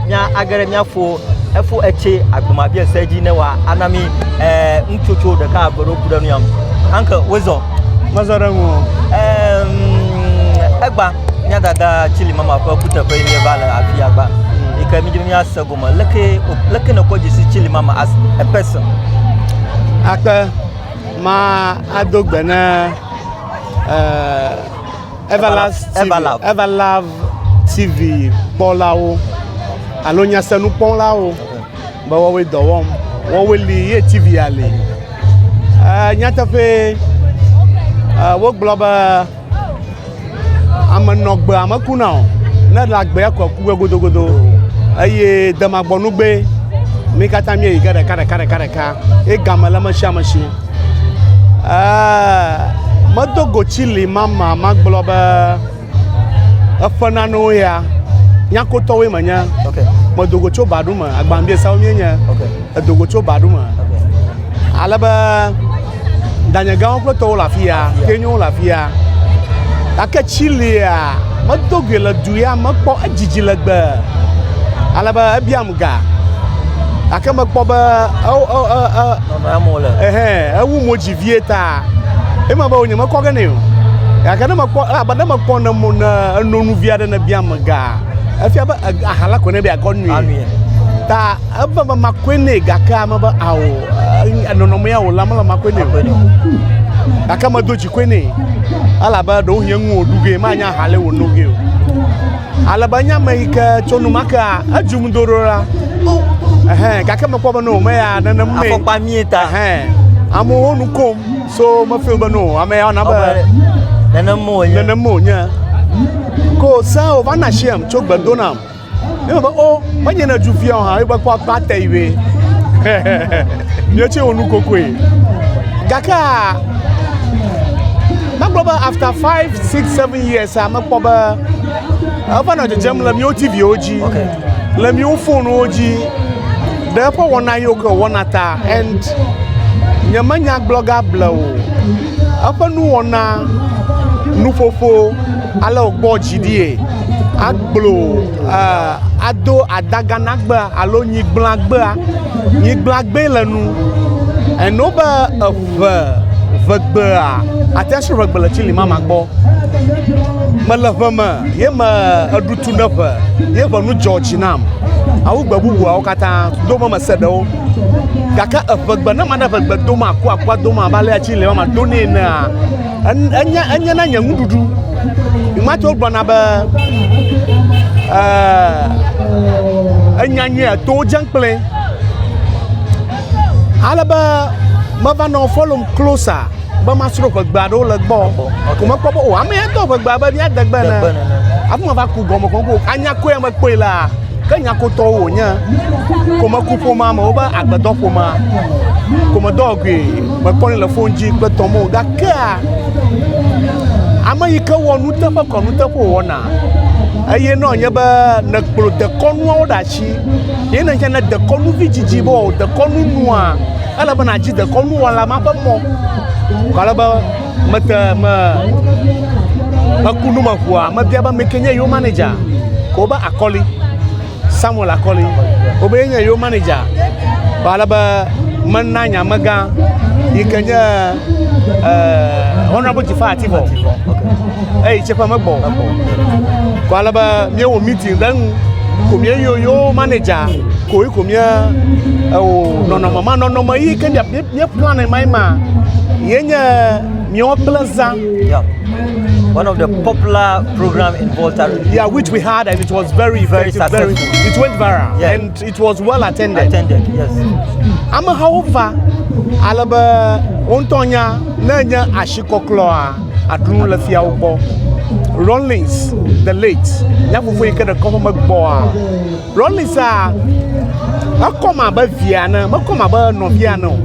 Nya agere miafo efo etse agbomabiɛ se dzi ne wa anami eh, ŋutsotso ɖeka agbeɖo ku ɖe nu yam anke wozɔ mezɔ ɖe ŋu egba mía dada tsili mama ƒe kuteƒe yi va le afi agba yi ke mi dzi mía se gome leke leke ne kɔ dzi si tsili mama as a person akpe ma ado gbe ne eh, Everlove TV kpɔlawo alo nyasenu kpɔlawo be woawoe dɔ wɔm woawoe li ye TV ya li nyateƒe wogblɔ be ame nɔ gbe ame kuna o ne le agbea kɔ ku gbe godogodo eye demagbɔnugbe mi katã mi yi ge ɖeka ɖeka ɖeka ɖeka ye game le ame sia ame si. Ɛɛ, medo go tsi li mama magblɔ be eƒe nanewo ya nyakotɔwoe menye. Okay. Medo go tso baɖu me, agbambiesa wo mienye. Okay. Edo go tso baɖu me. Okay. Ale be danyegãwo kple tɔwo le afi ya, kenyowo le afi ya. Gake tsi lia, medo goe le du ya me kpɔ edzidzi legbe. Ale be ebiam ga. Gake mekpɔ be Ɛhɛn, ewu mo dzi vie ta. Ema be wonye mekɔ ge nɛ o. Gake ne mekpɔ elabe ne mekpɔ ne mo ne eno nu vi aɖe ne bia mega. Efia be aha la ko ne be akɔ nui. Ta ebe be makɔe nɛ gake ame be ao nɔnɔme ya o la mele makɔe nɛ o. Gake medo dzi koe nɛ. Elabe ɖewo hie ŋu o ɖu ge manya aha le wono ge o. Ale be nya me yi ke tso nu ma kea, edzum do ɖo la. Ɛhɛn, gake mekpɔ be no, meya nenem mee. Afɔkpa mie ta. Ɛhɛn, amewo nu kom, so mefil be no, ame ya na be. Nenem mo wònye. Nenem mo wònye. Ko se o va na shiam tso gbe do nam. Ne me be o, oh, menye ne ju fia o hã, ebe kpɔ akpa te yi be. Nye tse wò nu kokoe. Gake Megblɔ be after five, six, seven years a mekpɔ be eva nɔ dzedzem le míwo TVwo dzi, le míwo fonuwo dzi, ɖe eƒe wɔna yiwo ke wɔna ta and nyemenya gblɔga ble o. Eƒe nuwɔna, nuƒoƒo, ale wògbɔ dzi ɖie, agblɔ uh, ado adaganagbe alo nyigblãgbea, nyigblãgbee le nu. Eno be eƒo ʋe ʋegbea ate ŋu asrɔ̃ ʋegbe le tsili mama gbɔ. Mele ʋe me ye me eɖu tu ne ʋe ye ʋe nu dzɔ dzi nam. Awu gbe bubuawo katã do me mese ɖewo. Gake eʋegbe ne mane ʋegbe dom aku akua dom abe alea tsili mama do nɛ enea enye enye na nye nuɖuɖu. Nyemate ŋu gblɔna be e enyanyɛ to dze kple. Ale be meva nɔ follow closer be masro ʋegbe aɖewo le gbɔ. Ko mekpɔ be o ame ya do ʋegbe abe ɖia degbe ne. Afi ma va ku gɔme ko ko anya koe me kpɔe la. Ke nya ko tɔwo wonye. Ko meku ƒoma me wo be agbedɔ ƒoma. Ko medɔ gui mekpɔ le phone dzi kple tɔmo gakea ame yi ke wɔ nuteƒe kɔ nuteƒe wɔna. Eye nɔ nye be nekplɔ dekɔnuawo ɖe asi Ye ne ne dekɔnu vi dzidzi be o dekɔnu nua ele be nadzi dekɔnu wɔla ma ƒe mɔ. Kale be mete me ekunu me ʋua mebia be meke nye yo manager. Ko be akɔli Samuel akɔli. Ko be nye yo manager. Kale be mena nyamega yi ke nye uh, Honorable Jafar Atibor eyi tse ƒe megbɔ ko ale be míewɔ meeting ɖe ŋu ko míeyo yo manager koe ko mía ewò nɔnɔme ma nɔnɔme yi ke mía mía plan ma yi ma yenye míawo kple zã. One of the popular program in Volta. Yeah, which we had and it was very, very, very, it went viral. Yeah. And It was well attended. Attended, yes. Amehawo va ale be wo ŋutɔ nya ne nye asikɔklɔa aɖu nu le fiawo gbɔ. Rollins the late nya fofo yi ke ɖe kɔƒe megbɔa. Rollins a ekɔm abe via ne mekɔm abe nɔvia ne o.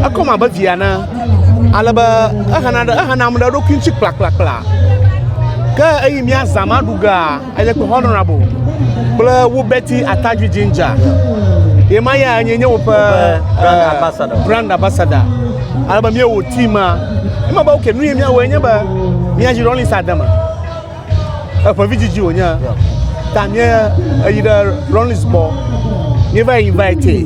Ekɔm abe via ne ale be ehena ehena ame ɖe eɖokui ŋuti kplakplakpla. Ke eyi mía zã ma ɖu gea. Eye kple honorable kple wo beti atadzi ginger. Ye ma ya nye nye woƒe eh, brand ambassador. Ale be míewò team ma. Ema be oke nu ye míawɔe nye be míadzi Rollins ade me. Eƒe vidzidzi wònye. Ta míeyi ɖe Rollins gbɔ. Míeva invite.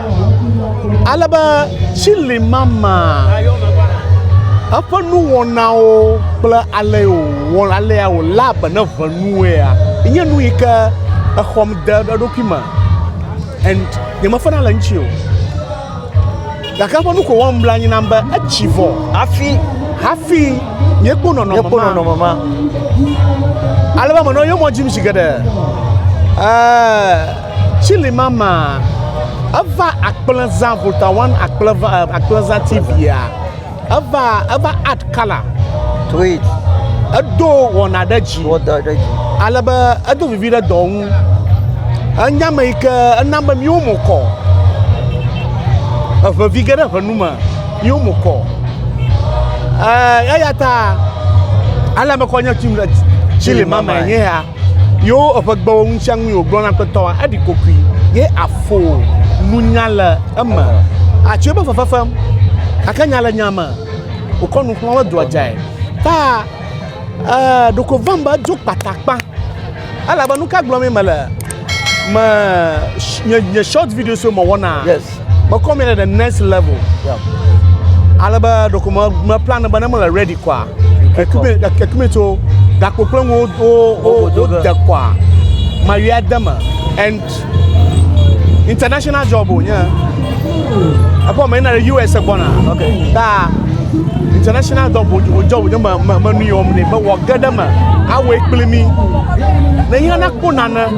Ale be tsili mama eƒe nuwɔnawo kple ale wòwɔ alea wòlé be ne ʋe nuwoea, nye nu yi ke exɔm de eɖokui me and nyemefena le eŋuti o. Gake eƒe nu ko wɔm bla anyi nam be etsi vɔ hafi hafi míekpɔ nɔnɔme míekpɔ ma. nɔnɔme ma. Ale be menɔ yomɔ dzim zi geɖe. Ɛɛ. Chili mama, eva akplẽzã volta one akplẽva eh, akplẽzã tibia, eva eva add color to it, edo wɔna ɖe dzi, wɔdɔ ɖe dzi, ale be edo vivi ɖe dɔ ŋu, enye ame yi ke ena be míwo mo kɔ, eʋevi ge ɖe ʋe nu me, míwo mo kɔ, eh, eya ta ale me kɔ nye tim le Chile mama nye ya. Yo eƒe gbewo ŋusiaŋui wògblɔ na kpetɔa, eɖi kokoe, ye afo nunya le eme. Atsoe be fefe fem, gake nya le nya me, wòkɔ nu xlɔ̃ hedoa dzae. Ta ee, ɖeko vem be edzo kpatakpa, elabe nu ka gblɔmee mele? Me nye short videos mewɔna. Yes. Mekɔ mi ɖe the next level. Yeah. Ale be ɖeko me me plan be ne mele ready kɔa. Ekumi ekumi tso gakpo kple ŋu wo wo wo de kɔa. Ma yɔ ade me and international job o nye. Ekɔ me yina ɖe US gbɔna. Okay. Ta international job o job nye me me me nu yɔ me ne be wɔ ge ɖe me. Awɔ ekpli mi. Ne yina na kpo nane.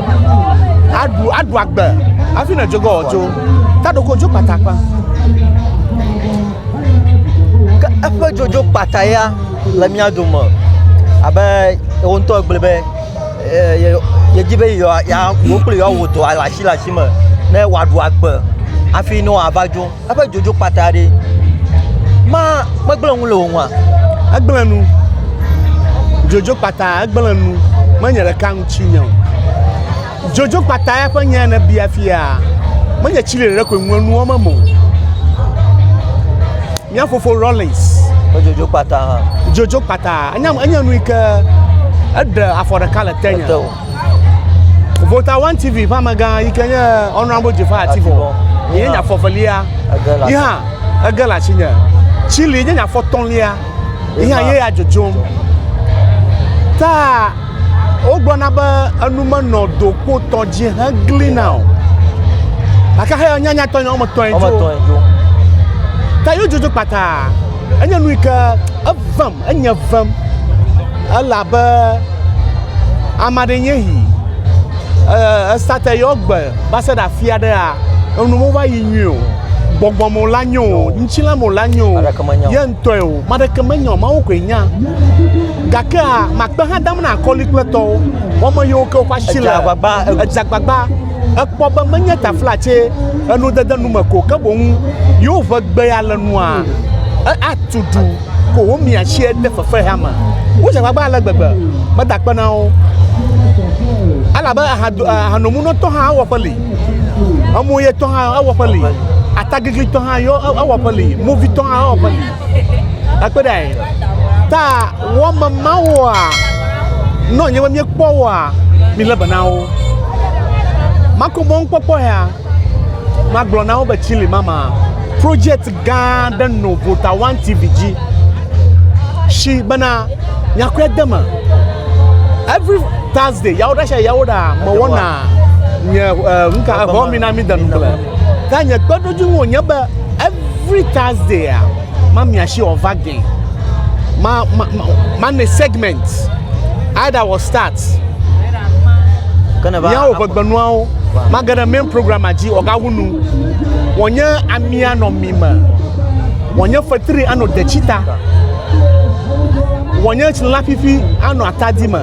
aɖu aɖu agbe hafi ne dzogɔ dzo taɖoko dzo kpata kpa ke eƒe dzodzo kpata ya le mía dome abe wo ŋutɔ gblɔ be yedi be yewo kple yewoawɔ dɔ le asi le asi me ne wòaɖu agbe hafi ne wòava dzo. eƒe dzodzo kpata ɖe ma megblẽ nu le wò ŋua egblẽ nu dzodzo kpata egblẽ nu menye ɖeka ŋuti nye o dzodzo kpata ya ƒe nya ne bia fia menye tsi ɖeɖe koe ŋue nuwo me mo mía fofo rollins dzodzo kpata dzodzo kpata enye nu yi ke eɖe afɔ ɖeka le te nye Vota One TV ƒe amegã yi ke nye Honorable Jefar Ativɔ ye nye afɔ velia yi hã ege le asinye. Chili nye nye afɔ tɔ̃lia yi hã ye ya dzodzom. Ta wogblɔna be enu menɔ dokpotɔ dzi heglina o gake heyɔ nyanyatɔ nya wɔme etɔ̃e dzo ta yodzodzo kpata enye nu yi ke evem Enye vem elabe ame aɖe nye yi. Esate yɔ gbe va se ɖe afi aɖea, enu mo va yi nyui o. Gbɔgbɔ mo la nyo o, ŋuti la mo la nyo o, ye ŋutɔe o. Ame aɖeke menyo, Mawu koe nya. Gakea makpe hã dam na akɔli kple tɔwo. Wɔme yiwo ke woƒe asi le. Edze agbagba. Ekpɔ be menye taflatse enudede nu me ko ke boŋ yewo ʋe gbea le nua atu du. ko womia tsi de fefexea me. Wodze agbagba ale gbegbe meda akpe na wo. Elabe ahanomunɔtɔ hã ewɔƒe li, emuyetɔ hã ewɔƒe li, atagiglitɔ hã ewɔƒe li, movitɔ hã ewɔƒe li. Ekpe ɖe anyi. Ta wɔme mawoa, ne wònye be míekpɔ woa, mílé be na wo. Makpɔmakpɔ ya. Magblɔ na wo be Chile mama project gã ɖe no Vota One TV dzi. Shi bena nyakɔe de me. Every Thursday yawo ɖe sia yawo ɖa me wɔna nye nka eh, vɔ mi na mi denu kple. Ta nye kpeɖodzi ŋu nye be every Thursday a. Ma mia shi wɔ va gɛ. Ma ma ma ma ne segment. Ada wɔ start. Mia wɔ ƒegbenuawo. Ma ge ɖe main programme dzi wɔ ga wunu. Wɔ nye amia nɔ mi me. Wɔ nye fetri anɔ detsita. Wɔ nye tsilã fifi anɔ atadi me.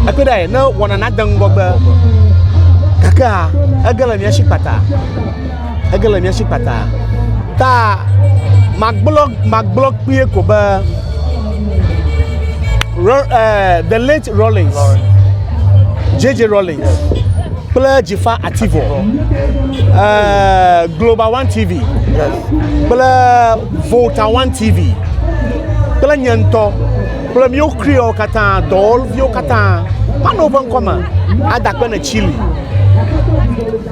Ekpe ɖe ne wɔna na de ŋgɔgbe. Gakea ege le mia shi kpata. Ege le mía si kpata. Ta magblɔ magblɔ kpie ko be Ro, uh, the late Rawlings, JJ Rawlings kple Jifa Ativo, uh, Global One TV kple Volta One TV kple nye ŋutɔ kple míwo kriwo katã dɔwɔviwo katã manɔ woƒe ŋkɔ me adakpe ne Chile.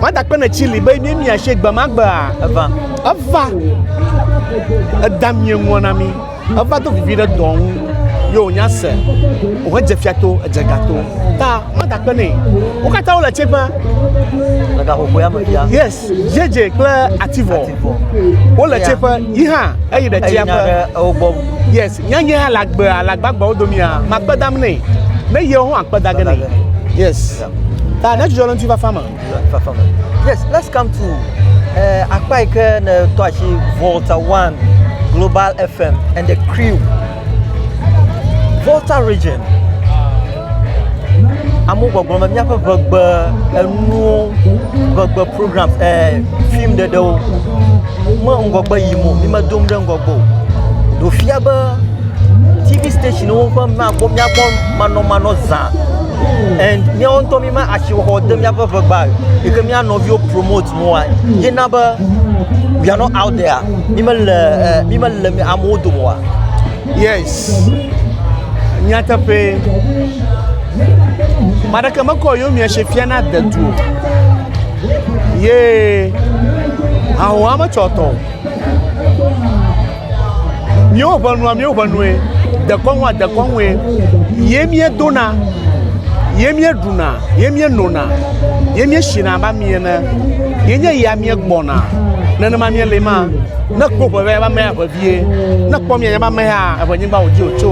Mada kpe ne tsi li be ne miatse gbe ma gbea eva. Eva. Eda mie ŋua na mi. Eva do vivi ɖe dɔ ŋu. Yo nya se. Wo dze fia to, edze ga to. Ta mada kpe ne. Wo kata wo le tse ƒe. Le ga hohoya me bia. Yes. Jeje kple ativɔ. Ativɔ. Wo le tse ƒe. Yi ha. Eyi ɖe tse ƒe. Ewo gbɔ. Yes. Nyanye alagbea, alagbagbawo domia. Makpe dam ne. Ne yewo hã akpe dage ne. Yes. Ta ne dzudzɔ le ŋutifafa me. Fafa me. Yes, let's come to uh, akpa yi ke ne tɔ asi Volta One Global FM and the crew. Volta region. Amewo gbɔgblɔ me míaƒe ʋegbe enuwo ʋegbe program eh, film ɖeɖewo me ŋgɔgbe yim o mi medom ɖe ŋgɔgbe o ɖo fia be tv stationwo ƒe míakpɔ míakpɔ manɔmanɔ zã and míawo ŋutɔ míma asixɔxɔ de míaƒe ʋegba yi ke mía nɔviwo promote mɔa ye na be we are not out there mímele ɛ mímele amewo dome oa. yes nyateƒee ame aɖeke mekɔ yewo mia si fia na dedu o ye ahoa metsɔ tɔ o Míwo ʋenua, míwo ʋenue, dekɔnua, dekɔnue, ye míedona, ye míeɖuna, ye míenona, ye míesina abe ami ene, ye nye ya míegbɔna, nenema míele ma, ne kpɔ ʋeʋe abe amea ʋevie, ne kpɔ miãnyae abe amea ʋenyigba wòdi wòtso.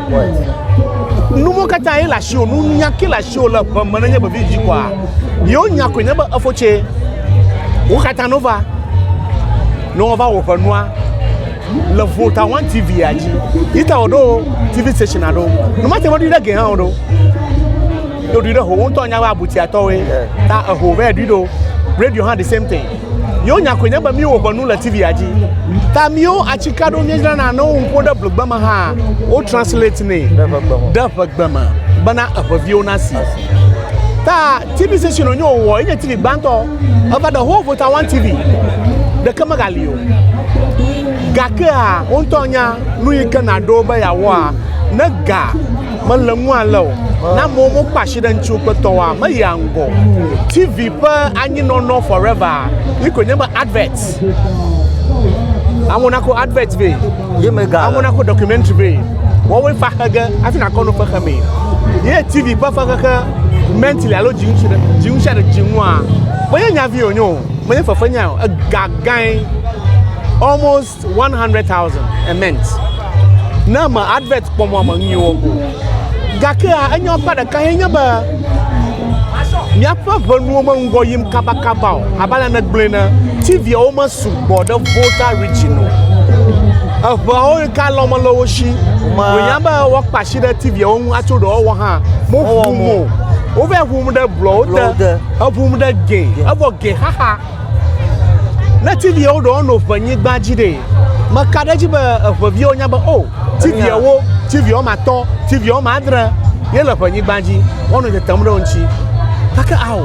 Nuwo katã ye le asiwò, nunya ke le asiwò le ʋe me nenye vevi dzi koa, yewo nya koe nye be efo tse. Wo katã no va, ne wova wò ƒe nua, le Volta One TV ya dzi, yi ta woɖo TV station aɖo, nu ma te ŋu ɖi ɖe ge hã woɖo. Ɖo ɖi ɖe ho, wo ŋutɔ nya be abutiatɔwoe, ta eho vɛ ɖi ɖo, radio hã the same thing. Yewo nya koe nye be míwo ƒe nu le TV-a dzi. Ta míwo atsika ɖo míedzrana ne woƒo ɖe ƒegbe me hã, wo translate nɛ ɖe ƒegbe me bena eƒeviwo nasi. Ta TV station wonye wowɔ enye TV gbãtɔ. Eva the whole Volta One TV ɖeke megali o. Gakea wo ŋutɔ nya nu yi ke nàɖo be yeawɔa ne ga mele ŋu ale o. Na amewo mokpa asi ɖe ŋuti wokpetɔwoa, meyia ŋgɔ o. TV ƒe anyinɔnɔ forever ye koe nye be advert. Amewo nako advert vɛ. Ye mega. Amewo nako documentary vɛ. Wɔwoe fa xe ge hafi nakɔ no xexe mee. Ye TV ƒe fexexe mentally alo dzi ŋuti ɖe dzi ŋuti ɖe dzi ŋua. Menye nyavi wònye o. Menye fefe nyae o. Egagãe. Almost One hundred thousand a month. Ne me advert kpɔ mɔ me nyuiwo ko. Gake enyɔ kpa ɖeka ye nye be míaƒe ʋenuwo meŋgɔ yim kabakaba o. Abe ale negblɔe ne TVawo mesugbɔ ɖe Volta region o. Eʋeawo yi ka lɔ mele wo si. Wònya be woakpa asi ɖe TVawo ŋu atso ɖe wɔwɔ hã. Moʋum o. Wova ʋum ɖe blɔwo te. Eʋum ɖe ge. Evɔ ge xaxa. Ne tiviawo ɖewo no ʋe nyigba dzi ɖe, meka ɖe edzi be eʋeviawo nya be o oh, tiviawo, tiviawo ma tɔ, tiviawo ma adre ye le ʋe nyigba dzi, woanɔ tetem ɖe wo ŋuti. Gake ao,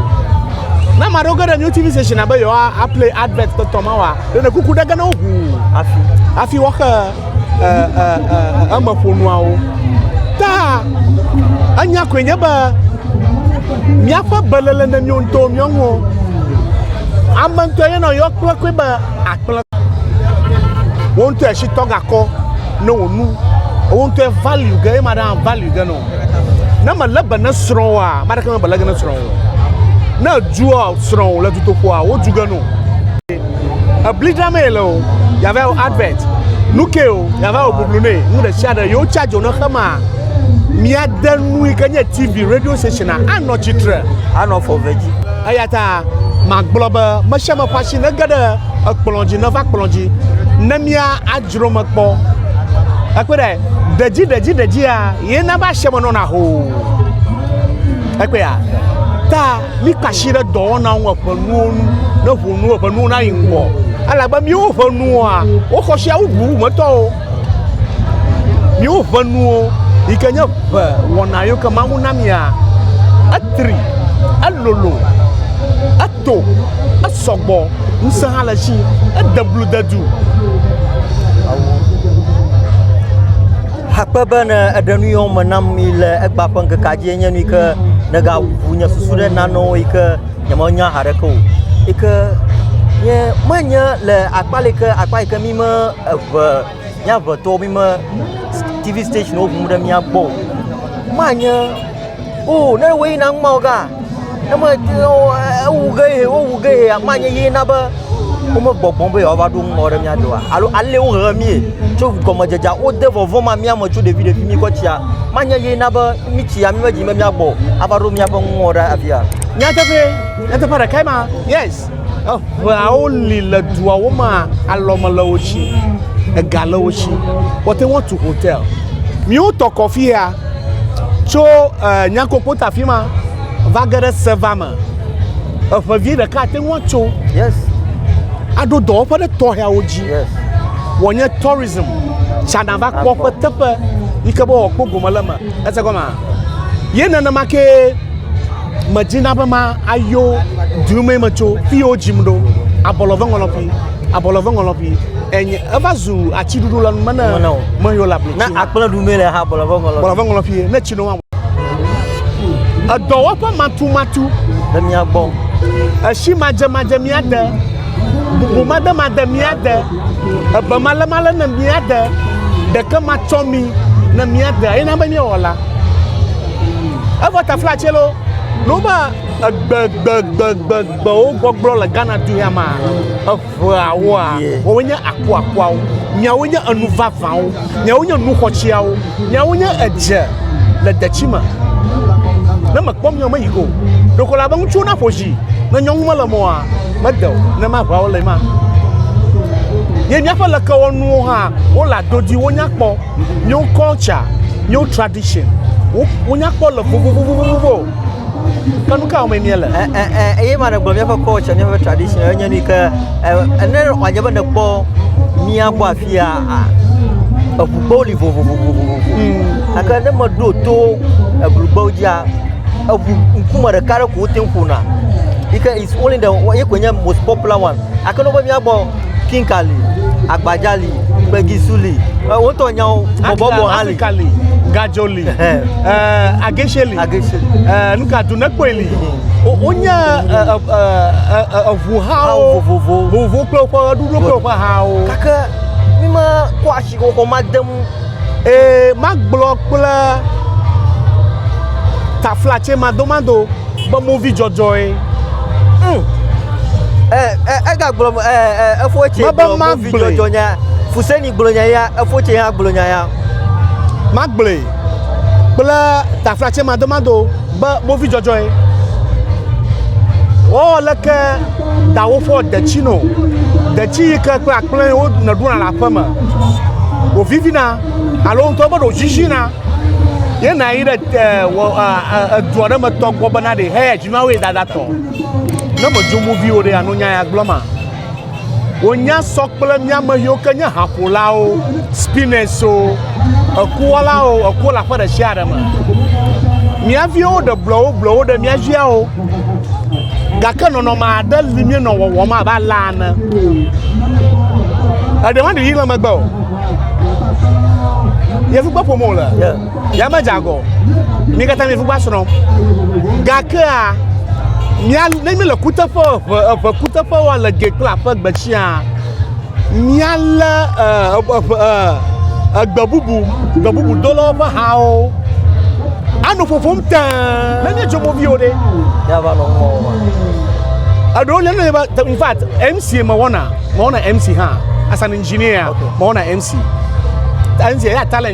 ne ame aɖewo ge ɖe new TV station be yewoa play advert tɔtɔ ma wa, ɖe ne kuku ɖe ge ne woʋu afi, afi woaxe emeƒonuawo. Ta enya koe nye be míaƒe belele ne míwo ŋutɔ míɔ ŋuɔ. Ame ŋutɔ yɔ nɔ yɔ kple koe be akple. Wo ŋutɔ esi tɔ gakɔ ne wò nu. Wo ŋutɔ value ge ema ɖe value ge nɔ. Ne me le be ne srɔ̃ wa, ma ɖeke me bele ge ne srɔ̃ wo. Ne dua srɔ̃ le dutoƒoa, wo du ge nɔ. Ebli dzram ye le o, yava wɔ advert. Nu ke o, yava wɔ bublu nɛ. Nu ɖe sia ɖe yewo charge ne xe ma, míade nu yi ke nye TV, radio station anɔ tsitre. Anɔ fɔ ve dzi. Eya ta magblɔ be me sia me ƒe asi nege ɖe ekplɔ dzi neva kplɔ dzi ne mía adzro me kpɔ. Ekpɔ ɖe ɖedzi ɖedzi ɖedzia ye na be asiame nɔna hoo. Ekpɔa ta Mika asi ɖe dɔwɔna ŋu eƒe nuwo nu ne ʋu nu eƒe nuwo nayi ŋgɔ. Elabe míwo ƒe nuwoa, woxɔ si awu ʋu metɔwo. Míwo ƒe nuwo yi ke nye ʋe wɔna yiwo ke Mawu na mía, etri, elolo, eto, esɔgbɔ, ŋusẽ hã le esi, ede blu de du. Akpe be ne eɖe nu yɔ me nam yi le egba ƒe ŋkekea dzi enye nu yi ke negaʋu nye susu ɖe nanewo yi ke nyemenya haɖeke o. Yi ke nye menye le akpa le yi ke akpa yi ke mi me eve mía eve tɔwo mi me TV station ŋu ɖe mía gbɔ o. Manye Oo, ne wòe na ŋma ɔga, ne me ewu ge ye, wowu ge ye akpa nye ye na be womegbɔgbɔm be yewoava ɖo ŋma ɖe mía doa alo ale wohe mí tso gɔmedzedzea wode vɔvɔ̃ ma mía me tso ɖevi ɖevi mí kɔ tsia manye ye na be mí tsi ya mí medzi be míagbɔ o ava ɖo míaƒe ŋma ɖe afia. Nyateƒee, nyateƒe ɖekae ma. Yes. Eŋeawo li le duawo me alɔ me le wo si, ega le wo si, woate ŋu atu hotel. Míwo tɔ kɔfi ya. Tso eh, Nyankokpot afi ma va ge ɖe Seva me, eŋe vi ɖeka ate ŋu atso yes. aɖo dɔwɔƒe ɖe tɔxeawo dzi yes. wòanye tourism tsana va kpɔ ƒe teƒe yi ke be wòakpɔ gome le me ese gɔma ye nenema ke medzina be ma ayo dume metso fi yewo dzim ɖo abɔlɔve ŋɔlɔƒi Abɔlɔ vɔ ŋɔlɔ bi. Enye eva zu atsi ɖuɖu lɔ nume ne me yo la bi. Na akple ɖu me le ha abɔlɔ vɔ ŋɔlɔ. Abɔlɔ vɔ ŋɔlɔ bi ne tsi no. Edɔwɔƒe matu matu. Le mia gbɔ. Eshi ma dze ma dze mia de. Bubu ma de ma de mia de. Ebe ma le ma le ne mia de. Ɖeke ma tsɔ mi ne mia de. Ayi na be mia wɔla. Evo tafla tsi lo. Loma. Egbegbegbegbewo gbɔgblɔ le Ghana du ya mea, eŋeawoa, woawoe nye akuakuawo, miawoe nye enu vavãwo, miawoe nye nu xɔtsiawo, miawoe nye edze le detsi me. Ne mekpɔ mia me yi ko, ɖeko la be ŋutsuwo naƒo dzi, ne nyɔnu mele me oa, mede o, ne maʋãwo le ma. Ye míaƒe lekewɔnuwo hã, wole adodi, wonya kpɔ, míawo culture, míawo tradition, wo, wonya kpɔ le vovovovovovo. Ke nu ka wɔmee míele? Ɛ- ɛ- ɛ- eye ma ɖegblɔ míaƒe culture míaƒe tradition enye nu yi ke ɛ- ne wòadze be nèkpɔ mía gbɔ afia a- eŋugbewo li vovovovovovo gake ne meɖo to eblugbewo dzia eŋu ŋkume ɖeka ɖe ko wote ŋu ƒona yi ke is only the ye koe nye most popular one gake ne wobe mía gbɔ kinka li agbadza li gbegisu li ɛ, wotɔ nyawo bɔbɔbɔ hã li Afrika li, gadzo li. agesheli nuka du nekpɔe li wonye eʋu hawo vovovo kple woƒe ɣeɖuɖu kple woƒe hawo gake mi ma kɔ asi xɔxɔ ma de mu ee magblɔ kple taflatse madomado be movi dzɔdzɔe hmm. egagblɔ efo tse mebe magblɔ fuseni Gblɔ nya ya, efo tse ya gblɔ nya ya. Magblɔe kple taflatse madomado be movi dzɔdzɔe. Wɔwɔ leke dawofɔ detsi no, detsi yi ke kple akplẽ wo nèɖuna le aƒeme wòvivina alo ŋutɔ be ɖòziziina ye nàyi ɖe edua ɖe me tɔ gbɔ bena ɖe heya dzi na wo ye dada tɔ. Ne mèdzo movi o ɖe ano nya ya gblɔ ma. Wònya sɔ kple mía ame siwo ke nye haƒolawo, spinners-o, ekuwɔlawo, ekuwo le aƒe ɖe sia ɖe me. Mía viwo ɖe blɔwobblɔwo ɖe mía dziawo, gake nɔnɔme aɖe li míenɔ wɔwɔm abe alea ene. Eɖe maɖiɖi le megbe o. Yevu gbe ƒom wòle. Ya me dzagɔ. Mi katã mi fugba srɔ̃. Gakea mia ne mi le kuteƒe eʋe eʋe kuteƒe wa le ge kple aƒe gbe tsiaa mia le eʋe egbe bubu gbe bubu do le woƒe hawo. Ano ƒoƒom tẽ. Ne mi tso mobi o ɖe. Ya va nɔ ŋgɔ wa. Eɖewo le ne ba in fact MC me wɔna me wɔna MC ha as an engineer me wɔna MC. MC ya talent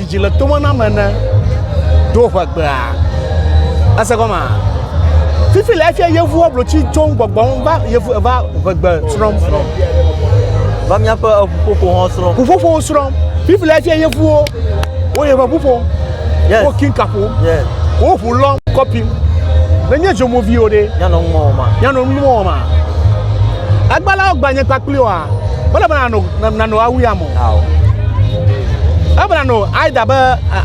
Dzi le tome nam ene ɖo ʋegbea. Ese gɔma? Fifi le efia yevu ablotsi dzom gbɔgbɔm va yevu eva ʋegbe srɔ̃m. Va míaƒe ƒuƒoƒo hã srɔ̃m. Ƒuƒoƒo srɔ̃m. Fifi le efia yevuwo wo yeƒe ƒu ƒom. Yes. Wo kinka ƒom. Yes. Wo ʋu lɔm kɔpim. Nenye dzomoviwo ɖe. Nyanɔ nu wɔma. Nyanɔ nu wɔma. Agbalawo gbanye kpakpli oa. Mele be nanɔ nanɔ awu ya mo. Ebla no aida be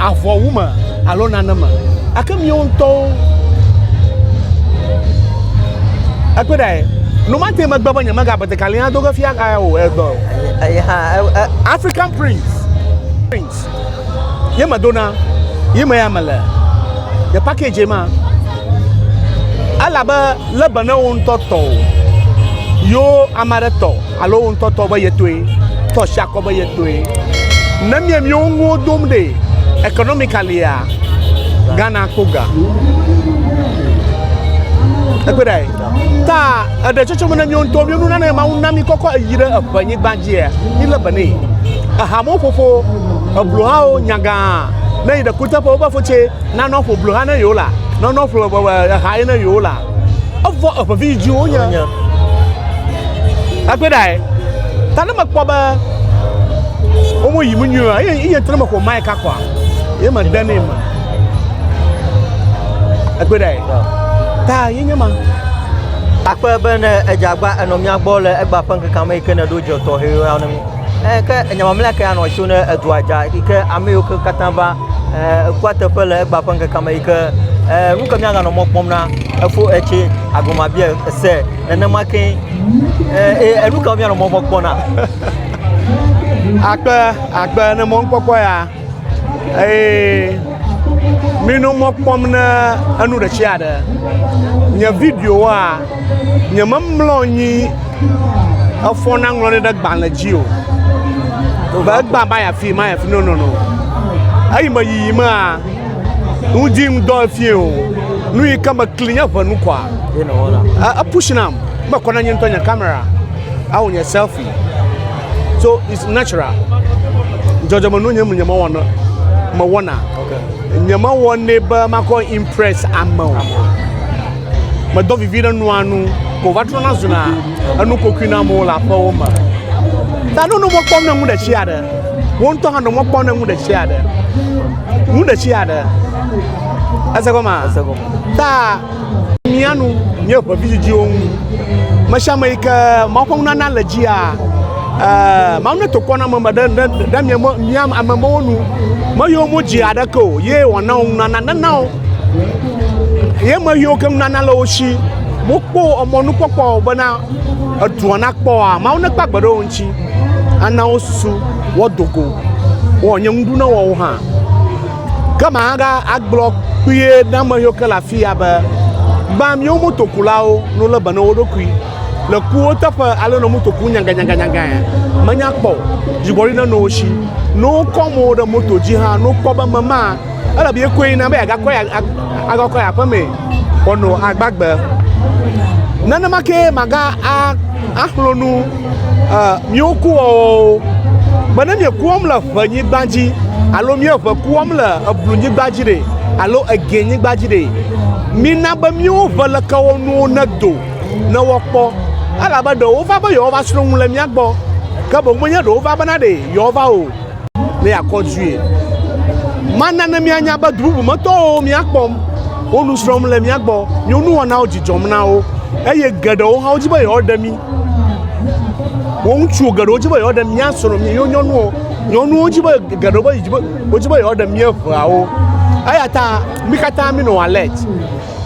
avɔwu me alo nane me. Ake miwo ŋutɔwo ekpe ɖe nomate megbe be nyemega betekali ado ge fia ga o egbɔ. African Prince. Prince. Ye me dona. Ye me ya me le. The package ma. Ela be lebe ne wo ŋutɔ tɔ. Yo amare tɔ. Alo wo ŋutɔ tɔ be ye tɔe, tɔ si akɔ be ye tɔe. Ne mie miewo nuwo dom ɖe economicalia, Ghana kpo ga. Ekpe ɖe ta eɖe tsɔtsɔ me ne miewo ŋutɔ miewo nuna ne mawu na mi kɔkɔ eyi ɖe eƒe nyigba dzia, mi le be ne. Ehamewo ƒoƒo, eblohawo nyaga ne yi ɖe kuteƒe wobe fotse nanɔ ƒo bloha ne yewo la, nɔnɔ ƒo eha ye ne yewo la. Evɔ eʋevi yi dzi wonye. Agbe ɖae. Ta ne mekpɔ be womo yi mu nyuie eye iye ŋutɔ ne mexɔ mai kakɔa, ye me de ne me. Agbe ɖae. Ta ye nye ma. Akpe be ne edzagba enɔ mía gbɔ le egba ƒe ŋkeke me yi ke ne ɖo dze tɔxɛ ya ne mi. Eh, ke enya mamlɛa ke anɔ tso ne edua dza yi ke ame yiwo ke katã va eh, ekua teƒe le egba ƒe ŋkeke me yi ke eh, nu ke míaganɔ mɔ kpɔm na efo etse agomabia ese nenema ke eye enu ka míanɔ mɔ kpɔm na. Akpe akpe ne mɔnukpɔkpɔ ya Eye mino mɔ kpɔm ne enu ɖe tsi aɖe. Nye videowoa, nye memlɔ nyi efɔ na ŋlɔ ɖe ɖe gbalẽ dzi o. Be egba ba ya fi, ma ya fi, no no no. Eyi me yiyi mea, ŋdi ŋdɔ efie o. Nu yi ke me kli nye ʋe nu kɔa. E, e push nam, me kɔ na nye ŋutɔ nye kamera. Awo nye selfie. so it's natural dzɔdzɔme nu nye nye mewɔ na mewɔna nye mewɔ ne be makɔ impress ame o medɔ vivi ɖe nua nu ko va trɔna zuna enu kokui na amewo le aƒewo me ta nunu mɔkpɔm ne ŋu ɖe tsi aɖe wo ŋutɔ hã nɔ mɔkpɔm ne ŋu ɖe tsi aɖe ŋu ɖe tsi aɖe ese gɔma ta. Mía nu nye ʋe vidzidziwo ŋu. Me sia me yi ke Mawu ƒe nunana le dzia, eh, Mawu netokɔ na ameme ɖe, ɖe, ɖe mia, mia amemewo nu. Meyɔ mo dzi aɖeke o, ye wòana wo nunana. Nena wo, ye me yiwo ke nunana le wo si. Mokpɔ emɔnukpɔkpɔ o bena edua nakpɔ oa, Mawu nekpe agbe ɖe wo ŋuti. Ana wo susu, woado go, wɔ nye ŋu ɖu na woawo hã. Ke ma ga agblɔ kpuie na ame yiwo ke le afia be, Gbã miwo motokulawo nu le be ne wo ɖokui le kuwo teƒe alo ne moto ku nyanganyanganyangae menya kpɔ o. Dzigbɔɖi ne no wo shi. Ne wo kɔ mo ɖe moto dzi hã, ne wo kpɔ be mema, ele be ye koe na be agakɔ ya agakɔ ya ƒeme wɔnɔ agbagbe. Nenema ke ma ga a axlonu. Miwo kuwɔwɔwo. Be ne mieke wɔm le ʋenyigba dzi alo míeʋe ku wɔm le eblunyigba dzi ɖe alo egɛnyigba dzi ɖe, mina be míwo ʋelekewɔnuwo nedo ne woakpɔ, elabe ɖe wova be yewoava srɔ̃ nu le mía gbɔ, ke boŋ menye ɖe wova bena ɖe yewoava o, ne yeakɔ due. Mana ne míanya be du bubu me tɔwo míakpɔm, wo nu srɔ̃m le mía gbɔ, míwo nuwɔnawo dzidzɔm na wo, eye geɖewo hã wodi be yewoaɖe mí. Wo ŋutsuwo geɖewo dzi be yewoaɖe mía srɔ̃ mía yewo nyɔnuwo nyɔnuwo dzi be geɖewo be wodzi be yewoaɖe mía ʋeawo eya ta mi katã minɔ alert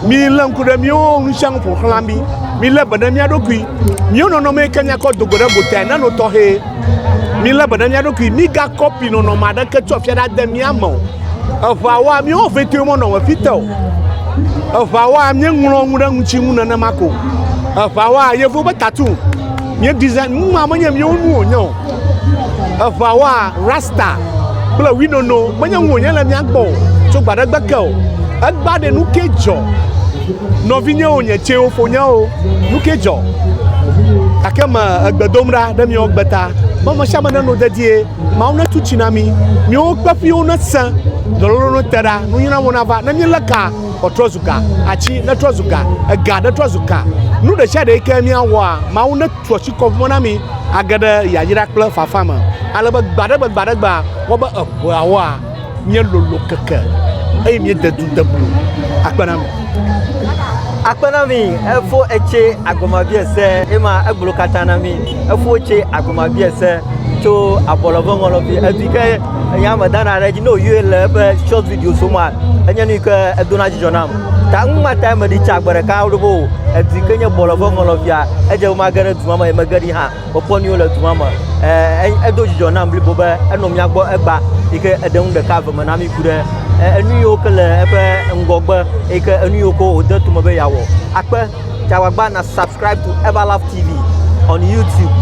milé ŋku ɖe míwo nu sia nu ƒoxlã mi milé be ɖe mía ɖokui míwo nɔnɔme yi ke míakɔ do go ɖe gota nano tɔxɛ. Mílé be ɖe mía ɖokui, mígakɔpi nɔnɔme aɖeke tso afia ɖe ade mía me o. Eŋawoa, míawo vɛtɔe menɔ xexi te o. Eŋawoa, míeŋlɔ nu ɖe ŋuti ŋu nenema ko. Eŋawoa, yevuwo ƒe tattoo, míedesign nu ma menye míawo nu wònye o. Eŋawoa, rasta kple winono menye nu wònye le mía gbɔ o tso gbe aɖe gbe ke o. Egbea ɖe nu ke dzɔ. Nɔvinyewo nye tsɛwo fo nyawo nuke dzɔ gake me egbedom ɖa ɖe miawo gbeta be me sia me neno dedie mawu ne tu tsi na mi miwo kpeƒiwo ne se dɔlolo ne te ɖa nunyina mo nava ne mi le ka ɔtrɔ zu ga atsi ne trɔ zu ga ega ne trɔ zu ka nu ɖe sia ɖe yi ke mia wɔa mawu ne tu tsi kɔ vɔ na mi age ɖe yayra kple fafa me ale be gbaɖegbe gbaɖegbe wɔ be eʋua wɔa Míelolo keke eye míede du de blu. Akpe na mi. Akpe na mi. Efo etse agɔmabia se ema egblo katã na mi. Efo etse agɔmabia se tso abɔlɔ ƒe ŋɔlɔfi. Edui ke enya me dana ɖe edzi ne wòyɔe le eƒe short video so ma. Enye nu ke edona dzidzɔ nam. Ta nu ma ta meɖi tsa gbe ɖeka ɖo o. Edui ke nye bɔlɔ ƒe ŋɔlɔfia. Edze be mage ɖe du ma me ye mege ɖi hã. Kpɔkpɔ nyuiwo le du ma me. Edo dzidzɔ nam blibo be enɔ mía gbɔ egba yi ke eɖe nu ɖeka eve me na mí ku ɖe enu yiwo ke le eƒe ŋgɔgbe yi ke enu yiwo ke wòde tome be yeawɔ. Akpe, tsi agbagba na subscribe to Everlove TV on YouTube.